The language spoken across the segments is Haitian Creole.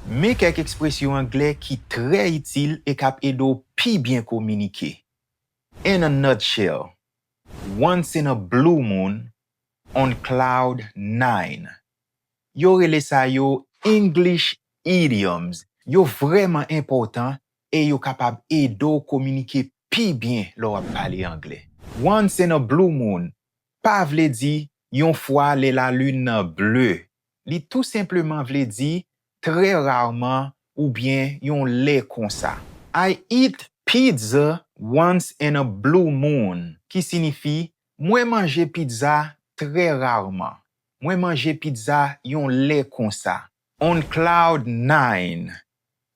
Men kèk ekspresyon anglè ki trè itil e k ap ede w pi byen kominike, In a nutshell, Once in a blue moon, On cloud nine. Yo rele sa yo English Idioms. Yo vrèman enpòtan e yo kapab ede w kominike pi byen lè w ap pale anglè. Once in a blue moon pa vle di yon fwa lè lalin nan ble Li tou senpleman vle di trè rarman oubyen yon lè konsa. I eat pizza once in a blue moon, ki sinifi, Mwen manje pizza trè rarman. Mwen manje pizza yon lè konsa. On cloud nine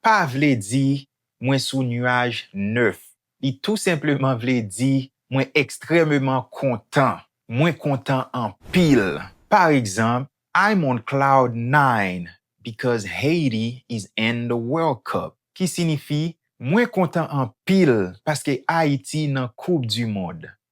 pa vle di mwen sou nuaj nèf. Li tou senpleman vle di Mwen ekstrèmeman kontan. Mwen kontan anpil. Paregzanp, I'm on cloud nine because Haiti is in the World Cup, ki sinifi, Mwen kontan anpil paske Ayiti nan Koup Dimond.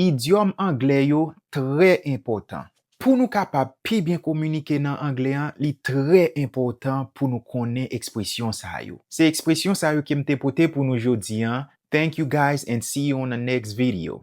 Idyòm anglè yo trè enpòtan. Pou nou kapab pi byen kominike nan anglè an, li trè enpòtan pou nou konnen ekspresyon sa yo. Se ekspresyon sa yo ke m te pote pou nou jodi an, thank you guys and see you on the next video.